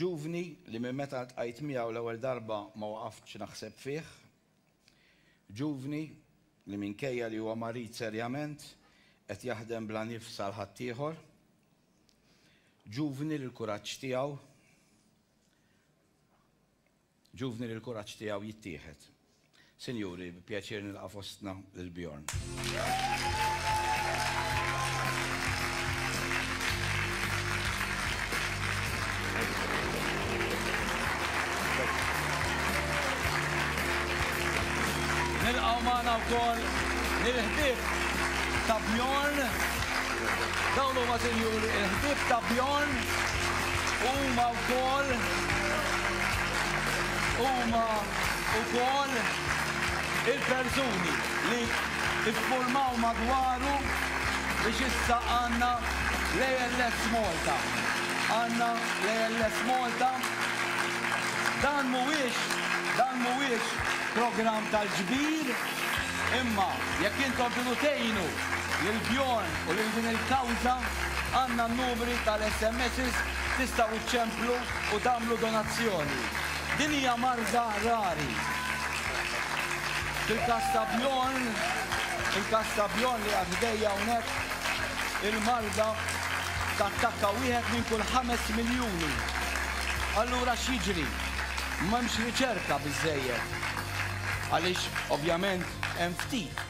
Ġuvni li minn meta ltqajt miegħu l-ewwel darba ma waqaftx naħseb fih. Ġuvni li minkejja li huwa marid serjament qed jaħdem bla nifs għal ħaddieħor. Ġuvni li l-kuraġġ tiegħu. Ġuvni li l-kuraġġ tiegħu jittieħed. Sinjuri, bi pjaċir nilqa' fostna lil Bjorn. Nilqgħu magħna wkoll lill-ħbieb ta' Bjorn. Dawn huma sinjuri il-ħbieb ta' Bjorn huma wkoll huma wkoll il-persuni li iffurmaw madwaru biex issa għandna l-ALS Malta. Għandna l-ALS Malta. Dan mhuwiex dan mhuwiex programm tal-ġbir imma jekk intom tridu tgħinu Lil Bjorn u lil din il-kawża għandna n-numri tal-SMSs tistgħu ċċemplu u tagħmlu donazzjoni. Din hija marża rari. Fil-każ ta' Bjorn, fil-każ ta' Bjorn li qiegħed ħdejja hawnhekk, il-marda tattakka wieħed minn kull ħames miljuni. Allura x'jiġri? M'hemmx riċerka biżżejjed. Għaliex ovvjament hemm ftit.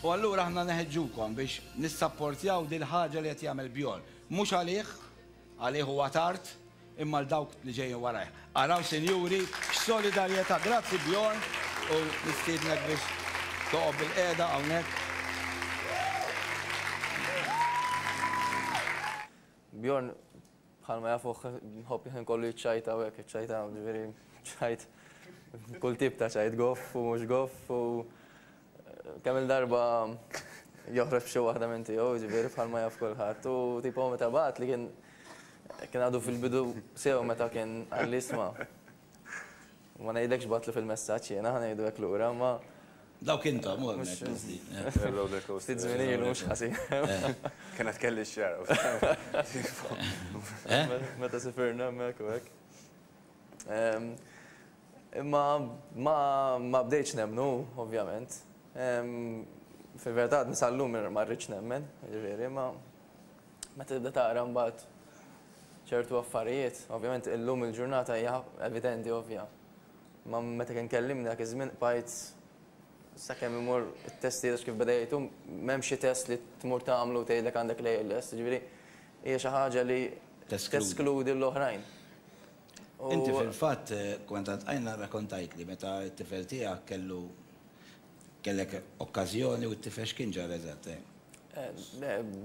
U allura aħna neħeġġukom biex nissapportjaw dil-ħaġa li qed jagħmel Bjorn. Mhux għalih, għalih huwa tard, imma għal dawk li ġejjin warajh. Araw sinjuri x'solidarjetà. Grazzi Bjorn u nistiednek biex toqgħod bilqiegħda hawnhekk. Bjorn, Bħalma jafuh nħobb il-ħin kollu jiċċajta u hekk, jiċċajta, ġifieri ċajt kull tip ta' ċajt, goff u mhux goff u kemm-il darba joħroġ b'xi waħda minn tiegħu, ġifieri bħalma jaf kulħadd. U tipo meta bagħat li kien kien għadu fil-bidu sew meta kien qal li isma' Ma ngħidlekx bgħattlu fil-messaġġ jiena, ħa ngħidu hekk lura, imma. Dawk intom, hu hemmhekk qisdi. Ftit żmien ilu mhux ħażin. Kien għad kelli x-xagħar. Meta sifirna hemmhekk u hekk. Imma ma bdejtx nemmen hu, ovvjament. Fil-verità għadni sal-lum ma rridx nemmen, jiġifieri, imma Meta tibda taqra mbagħad ċertu affarijiet, ovvjament illum il-ġurnata hija evidenti ovvja. Ma meta kien kellimni dak iż-żmien qbajt sakemm imur it-testijiet kif beda jgħidu m'hemm xi test li tmur tagħmlu tgħidlek għandek l-ALS, jiġifieri hija xi ħaġa li teskludi l-oħrajn. Inti fil-fatt kont għad qajna rrakontajtli meta t-tifel tiegħek kellu Kellek okkażjoni u t-tifel x'kien ġara eżatt?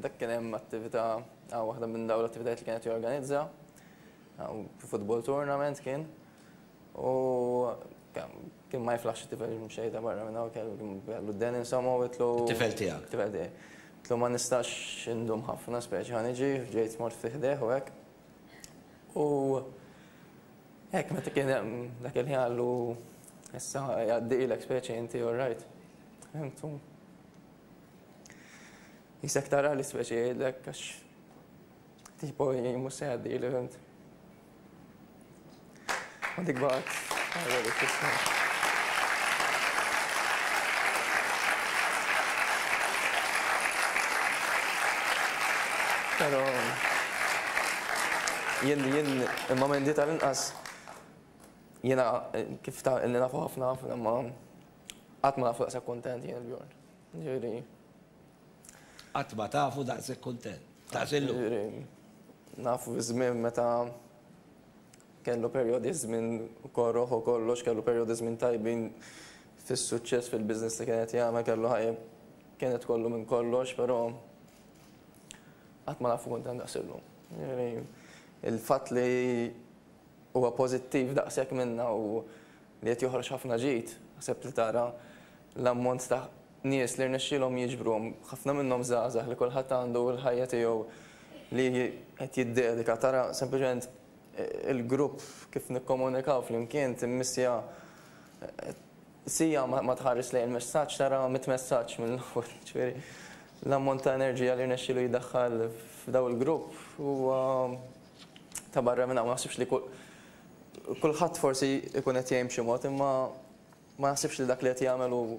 Dak kien hemm attività, waħda minn dawn l-attivitajiet li kien qed jorganizza, football tournament kien, u kien ma jiflaħx it-tifel xejda barra minn hawn, kellu d-deni insomma u għidtlu. It-tifel tiegħek? It-tifel tiegħi. Għidtlu ma nistax indum ħafna speċi ħa niġi, ġejt mort fi ħdejh u hekk. U Hekk meta kien hemm dak il-ħin qallu issa jgħaddielek speċi inti all right. Fimtu? Jisek tara li speċi jgħidlek għax tipo mhux se jgħaddieli fimt. U dik bagħad. Pero jien jien Imma Mandy tal-inqas jiena kif ta' illi nafu ħafna ħafna imma qatt ma nafu daqshekk kuntent jien il-Bjorn. Ġifieri. Qatt ma tafu daqshekk kuntent. Daqs illum. Ġifieri nafu ż-żmien meta kellu perjodi ż-żmien korroħ u kollox, kellu perjodi ż-żmien tajbin fis-suċċess fil-business li kien qed jagħmel, kellu ħajja kienet kollu minn kollox, però qatt ma nafu kuntent daqs illum. Ġifieri. Il-fatt li huwa pożittiv daqshekk minna u li qed joħroġ ħafna ġid, ħseb li tara l-ammont ta' nies li rnexxielhom jiġbru, ħafna minnhom żgħażagħ li kulħadd għandu l-ħajja tiegħu li qed jiddedika, tara sempliċement il-grupp kif nikkomunikaw flimkien timmissja. Siegħa ma tħares lejn il-messaġġ tara mitt messaġġ mill-ewwel. Jiġifieri l-ammont ta' enerġija li rnexxielu jdaħħal f'daw il-grupp huwa ta' barra minn hawn. Ma naħsibx li kulħadd forsi jkun qed jgħin b'xi mod imma ma naħsibx li dak li qed jagħmel hu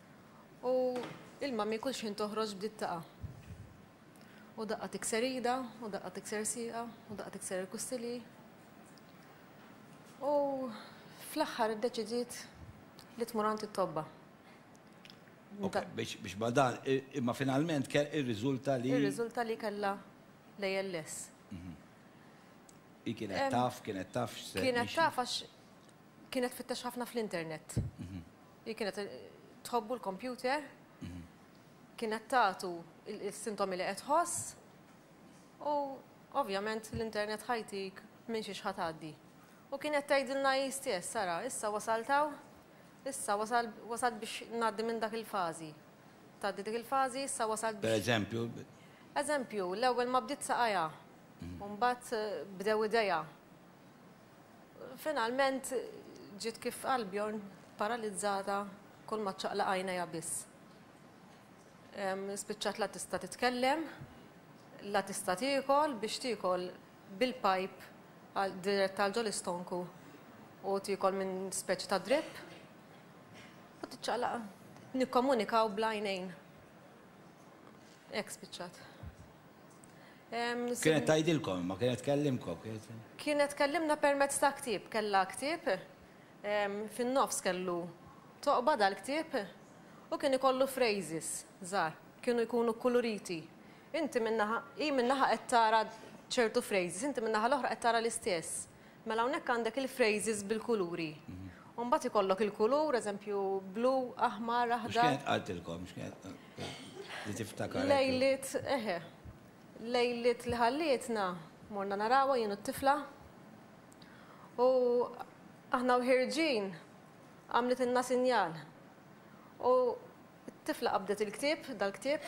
U il-mami kull xħin toħroġ bdiet taqa'. U daqqa tikser ida, u daqqa tikser sieqa, u daqqa tikser il-kustilji. U fl-aħħar iddeċidiet li tmur għand it-tobba. Biex ma dan, imma finalment irriżulta li. Irriżulta li kellha l-ALS. Hi kienet taf, kienet taf x'se. Kienet taf għax kienet tfittex ħafna fl-internet. Hi kienet tħobbu l-kompjuter, kien qed tagħtu s-sintomi li qed tħoss u ovvjament l-internet ħajtik minn xiex ħa tgħaddi. U kien qed tgħidilna hi stess, ara, issa wasalt hawn, issa wasalt biex ngħaddi minn dak il-fażi. Tgħaddi dik il-fażi, issa wasalt biex. Pereżempju? Eżempju, l-ewwel ma bdiet saqajha, u mbagħad bdew idejha. Finalment ġiet kif qal Bjorn, paralizzata, kulma ċċaqlaq għajnejha biss. Spiċċat la tista' titkellem, la tista' tiekol biex tiekol bil-pipe dirett għal ġo l-istonku u tiekol minn speċi ta' drip u tiċċaqlaq. Nikkomunikaw bl-għajnejn. Hekk spiċċat. Kienet tgħidilkom, ma kienet tkellimkom? Kienet tkellimna permezz ta' ktieb, kellha ktieb, fin-nofs kellu toqba dal-ktieb u kien ikollu phrases żgħar, kienu jkunu kkuluriti. Inti minn naħa, hi minn naħa qed tara ċertu phrases, inti min-naħa l-oħra qed tara l-istess. Mela hawnhekk għandek il-phrases bil-kuluri. U mbagħad ikollok il-kulur, eżempju, blu, aħmar, aħdar. X'kienet qaltilkom? Li tiftakar. Lejlit, eħe. Lejlit li ħallietna, morna narawha jien u t-tifla. U aħna u ħirġin għamlet inna sinjal. U t-tifla qabdet il-ktieb, dal-ktieb,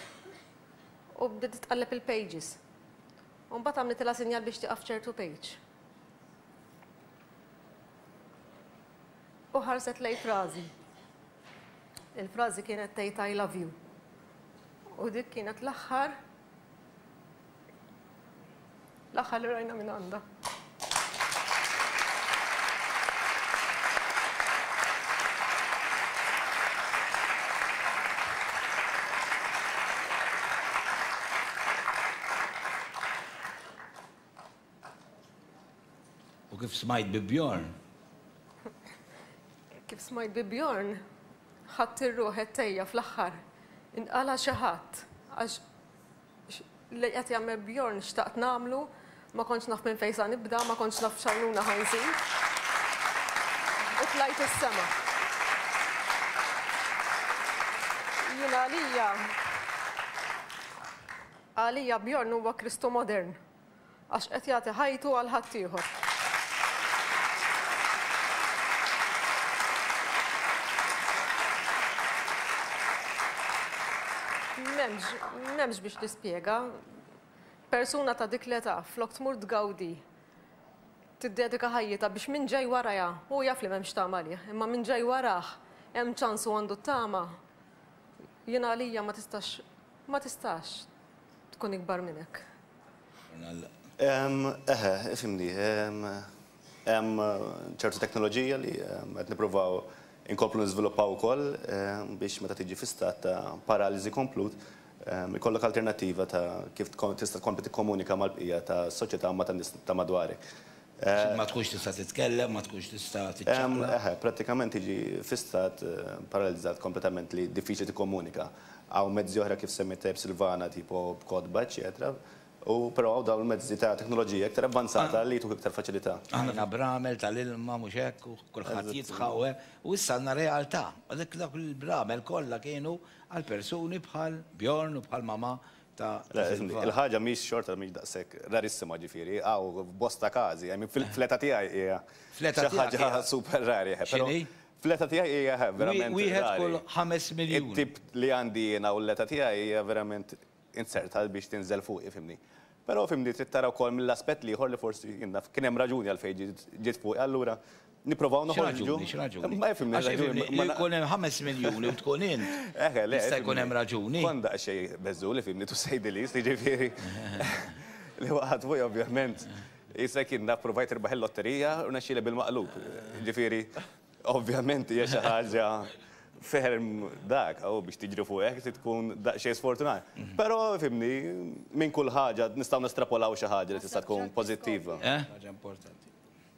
u bdiet tqalleb il-pages. U mbagħad għamlitilha sinjal biex tieqaf f'ċertu page. U ħarset lejn frażi. Il-frażi kienet tgħid I love you. U dik kienet l-aħħar l-aħħar li rajna minn għandha. U kif smajt bi Bjorn? Kif smajt bi Bjorn, ħadt ir-ruħ għettejja fl-aħħar. Inqala' xi ħadd għax Li qed jagħmel Bjorn xtaqt nagħmlu, ma kontx naf minn fejn sa nibda, ma kontx naf x'għajnuna ħa nżid. U tlajt is-sema. Jien għalija, għalija Bjorn huwa Kristu modern. Għax qed jagħti ħajtu għal ħaddieħor. M'hemmx, m'hemmx biex nispjega. Persuna ta' dik l-età flok tmur tgawdi tiddedika ħajjitha biex min ġej warajha, hu jaf li m'hemmx tama għalih, imma min ġej warah hemm ċans u għandu t-tama, jien għalija ma tistax, ma tistax tkun ikbar minn hekk. Eħe, ifhimni. Hemm ċertu teknoloġija li qed nippruvaw inkomplu niżviluppaw ukoll biex meta tiġi fi stat ta' paraliżi komplut ikollok alternattiva ta' kif tista' tkompli tikkomunika mal-bqija tas-soċjetà u ma' tan-nies ta' madwarek. Ma tkunx tista' titkellem, ma tkunx tista' tiċċaqlaq. Eħe, prattikament tiġi fi stat paralizzat kompletament li diffiċli tikkomunika. Hawn mezzi oħra kif semmit tajjeb Silvana tipo b'kotba eċċetera u però hawn dawn il-mezzi ta' teknoloġija iktar avvanzata li jtuk iktar faċilità. Għandna bramel tal-ilma mhux hekk u kulħadd jidħaq u hekk u issa għandna realtà. Għalhekk dawk il-bramel kollha kienu għal persuni bħal Bjorn u bħal Mamà ta' dak il-valur. Il-ħaġa mhix xorta mhix daqshekk rarissima, ġifieri hawn bosta każi, I mean fl-età tiegħi hija xi ħaġa super rari. X'inhi? Fl-età tiegħi hija verament rari. Wieħed kull ħames miljun. It-tip li għandi jiena u l-età tiegħi hija verament inzerta biex tinżel fuqi, fhimni. Però fhimni trid tara wkoll mill-aspett l-ieħor li forsi jien naf kien hemm raġuni għalfejn ġiet fuqi allura Nipprovaw noħorġu. Xi raġuni? Ma jifhimni. Għax ifhimni, ma jkun hemm ħames miljuni u tkun int. Eħe, le. Jista' jkun hemm raġuni. Kont daqsxejn beżżul ifhimni tu say the least, jiġifieri. Li waqgħat fuqi ovvjament. Jista' jkun naf provajt irbaħ il-lotterija u rnexxieli bil-maqlub. Jiġifieri, ovvjament hija xi ħaġa ferm dak, u biex tiġri fuq hekk trid tkun daqsxejn sfortunat. Però ifhimni, minn kull ħaġa nistgħu nestrapolaw xi ħaġa li tista' tkun pożittiva. Eħ? Ħaġa importanti.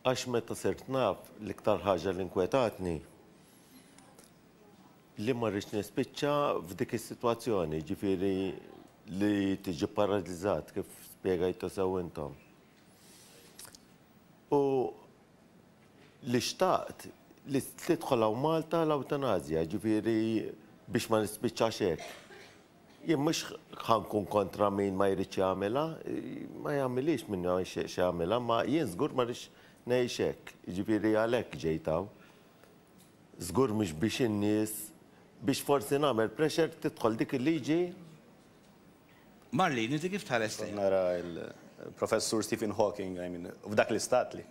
Għax meta sirt naf, l-iktar ħaġa li nkwetatni li ma rridx nispiċċa f'dik is-sitwazzjoni, jiġifieri li tiġi pparaliżat kif spjegajtu sew intom. U li xtaqt li tidħol hawn Malta l-ewtanasja, jiġifieri biex ma nispiċċax hekk. Jien mhux ħa nkun kontra min ma jridx jagħmilha, ma jagħmilhiex min ma jixtieqx jagħmilha, imma jien żgur ma rridx ngħix hekk, jiġifieri għalhekk ġejt hawn. Żgur mhux biex in-nies, biex forsi nagħmel pressure tidħol dik il-liġi. Marlene, inti kif tħares lejha? Nara l-Professur Stephen Hawking, I mean, f'dak l-istat li.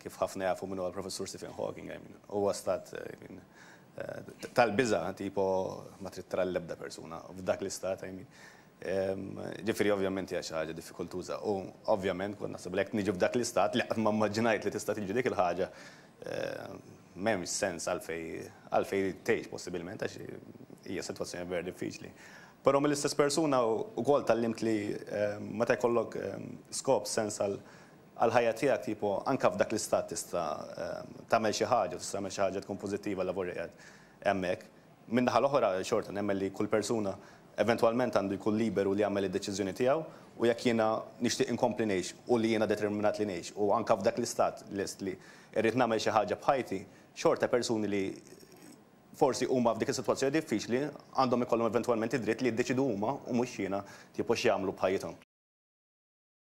Kif ħafna jafu min huwa l-Professur Stephen Hawking, I mean, huwa stat tal-biża' tipo ma trid tara lil ebda persuna f'dak l-istat, I mean. Ġifieri ovvjament hija xi ħaġa diffikultuża u ovvjament kont naħseb li jekk niġi f'dak l-istat li qatt ma mmaġinajt li tista' tiġri dik il-ħaġa, m'hemmx sens għalfejn għalfejn tgħix possibilment għax hija sitwazzjoni vera diffiċli. Però mill-istess persuna wkoll tgħallimt li meta jkollok skop, sens għal għall-ħajja tiegħek tipo anke f'dak l-istat tista' tagħmel xi ħaġa u tista' tagħmel xi ħaġa tkun pożittiva għal lavur li qiegħed hemmhekk. Min-naħa l-oħra xorta nemmen li kull persuna eventwalment għandu jkun liberu li jagħmel id-deċiżjoni tiegħu u jekk jiena nixtieq inkompli ngħix u li jiena determinat li ngħix u anke f'dak l-istat lest li rrid nagħmel xi ħaġa b'ħajti xorta persuni li forsi huma f'dik is-sitwazzjoni diffiċli għandhom ikollhom eventwalment id-dritt li jiddeċidu huma u mhux jiena tipo x'jagħmlu b'ħajjithom.